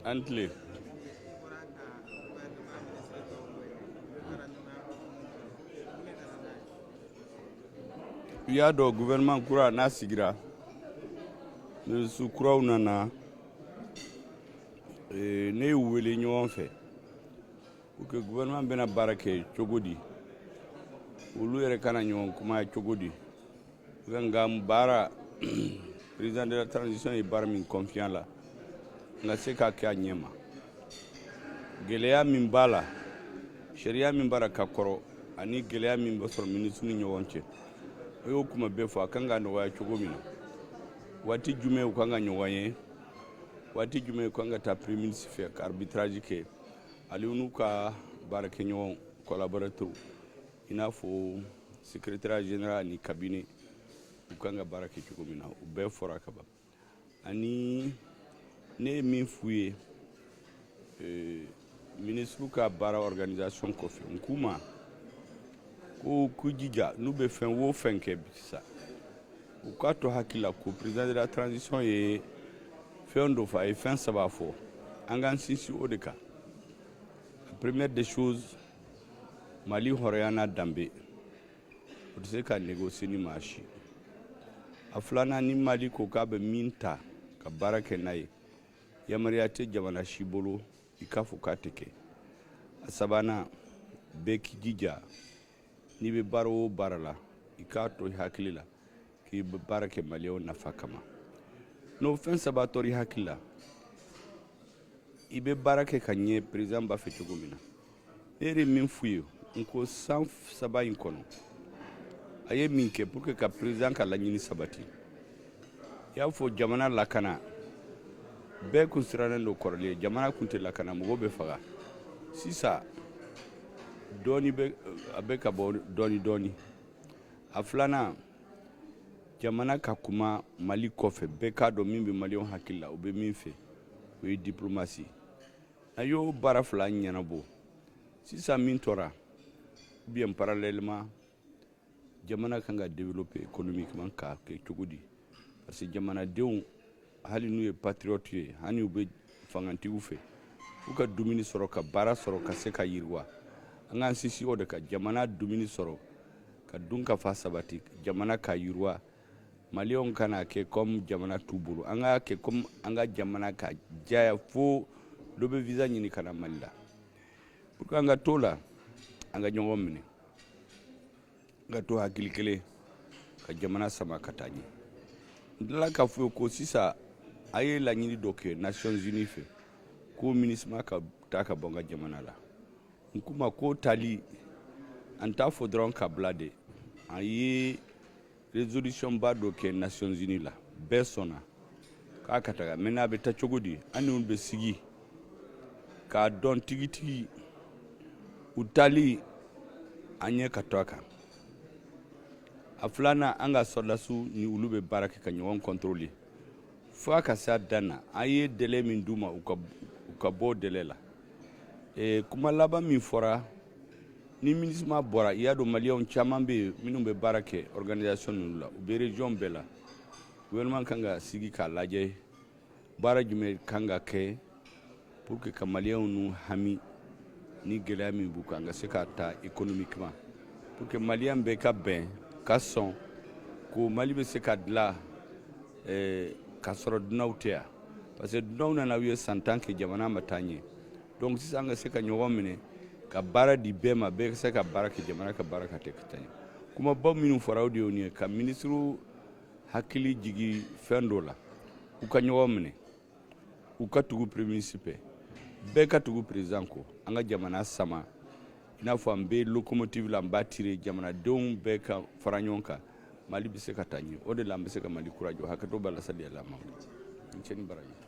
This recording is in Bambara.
aw ni tile i y'a dɔn gouvernement kura n'a sigira minisiri kuraw nana eh, ne y'u wele ɲɔgɔn fɛ pour que gouvernement bɛna baara kɛ cogo di olu yɛrɛ kana ɲɔgɔn kuma cogo di an ka baara president de la transition ye baara min confier an la an ka se k'a kɛ a ɲɛ ma gɛlɛya min b'a la sariya min b'a la ka kɔrɔ ani gɛlɛya min bɛ sɔrɔ minisiriw ni ɲɔgɔn cɛ o y'o kuma bɛɛ fɔ a kan ka nɔgɔya cogo min na waati jumɛn u kan ka ɲɔgɔn ye waati jumɛn u kan ka taa premier ministre fɛ ka arbitrage kɛ ale n'u ka baarakɛɲɔgɔn collaborateurs i n'a fɔ secrétariat général ni cabinet u kan ka baara kɛ cogo min na o bɛɛ fɔra ka ban ani ne ye min f'u ye euh, minisiriw ka baara organisation kɔfɛ n k'u ma ko k'u jija n'u bɛ fɛn o fɛn kɛ sisan u k'a to hakili la ko président de la transition ye fɛn dɔ fɔ a ye fɛn saba fɔ an k'an sinsin o de kan la première des choses mali hɔrɔnya n'a danbe o tɛ se ka négocier ni maa si a filanan ni mali ko k'a bɛ min ta ka baara kɛ n'a ye yamaruya tɛ jamana si bolo i k'a fɔ k'a tɛ kɛ a sabanan bɛɛ k'i jija n'i bɛ baara o baara la i k'a to i hakili la k'i bɛ baara kɛ maliyɛnw nafa kama n'o fɛn saba tora i hakili la i bɛ baara kɛ ka ɲɛ président b'a fɛ cogo min na ne yɛrɛ min f'u ye n ko san saba in kɔnɔ a ye min kɛ pour que ka président ka laɲini sabati i y'a fɔ jamana lakana bɛɛ kun sirannen don kɔrɔlen jamana kun tɛ lakana mɔgɔw bɛ faga sisan dɔɔni a bɛ ka bɔ dɔɔni dɔɔni a filanan jamana ka kuma mali kɔfɛ bɛɛ k'a dɔn min bɛ maliyɛnw hakili la u bɛ min fɛ o ye diplomasi a y'o baara fila ɲɛnabɔ sisan min tora ou bien parallèlement jamana kan ka développer économiquement k'a kɛ cogo di parce que jamanadenw hali n'u ye patriote ye hali u bɛ fangatigiw fɛ fo u ka dumuni sɔrɔ ka baara sɔrɔ ka se ka yiriwa an k'an sinsin o de kan jamana dumuni sɔrɔ ka dunkafa sabati jamana ka yiriwa maliyɛnw kana kɛ comme jamana t'u bolo an k'a kɛ comme an ka jamana ka diya fo dɔ bɛ visa ɲini ka na mali la pour que an ka t'o la an ka ɲɔgɔn minɛ An ka to hakili kelen ka jamana sama ka taa ɲɛ n tilala k'a fɔ ko sisan an ye laɲini dɔ kɛ nations unies fɛ ko minisma ka taa ka bɔ an ka jamana la n k'u ma ko taali an t'a fɔ dɔrɔn k'a bila dɛ an ye résolution ba dɔ kɛ nations unies la bɛɛ sɔnna k'a ka taga maintenant a bɛ taa cogo di an n'u bɛ sigi k'a dɔn tigitigi u taali an ɲɛ ka to a kan a filanan an ka sɔrɔdasiw ni olu bɛ baara kɛ ka ɲɔgɔn contrôler fo a ka se a dan na an ye délai min d'u ma u ka bɔ o délai la eh, kuma laban min fɔra ni minisima bɔra i y'a dɔn maliyɛnw caman bɛ yen minnu bɛ baara kɛ organisation ninnu la u bɛ région bɛɛ la gouvernement kan ka sigi k'a lajɛ baara jumɛn kan ka kɛ pour que ka maliyɛnw nu hami ni gɛlɛya min b'u kan ka se k'a ta économiquement pour que maliyɛn bɛɛ ka bɛn ka sɔn ko mali bɛ se ka dilan eh, k'a sɔrɔ dunanw tɛ yan parce que dunanw nana u ye san tan kɛ jamana ma taa ɲɛ donc sisan an ka se ka ɲɔgɔn minɛ ka baara di bɛɛ ma bɛɛ ka se ka baara kɛ jamana ka baara ka tɛ ka taa ɲɛ kumaba minnu fɔra o de y'o nin ye ka minisiriw hakili jigi fɛn dɔ la u ka ɲɔgɔn minɛ u ka tugu premier ministre fɛ bɛɛ ka tugu président kɔ an ka jamana sama i n'a fɔ an bɛ lokomotivi la an b'a tirer jamanadenw bɛɛ ka fara ɲɔgɔn kan mali bɛ se ka taa ɲɛ o de la an bɛ se ka mali kura jɔ hakɛto b'a la sali ala ma i ni ce i ni baraji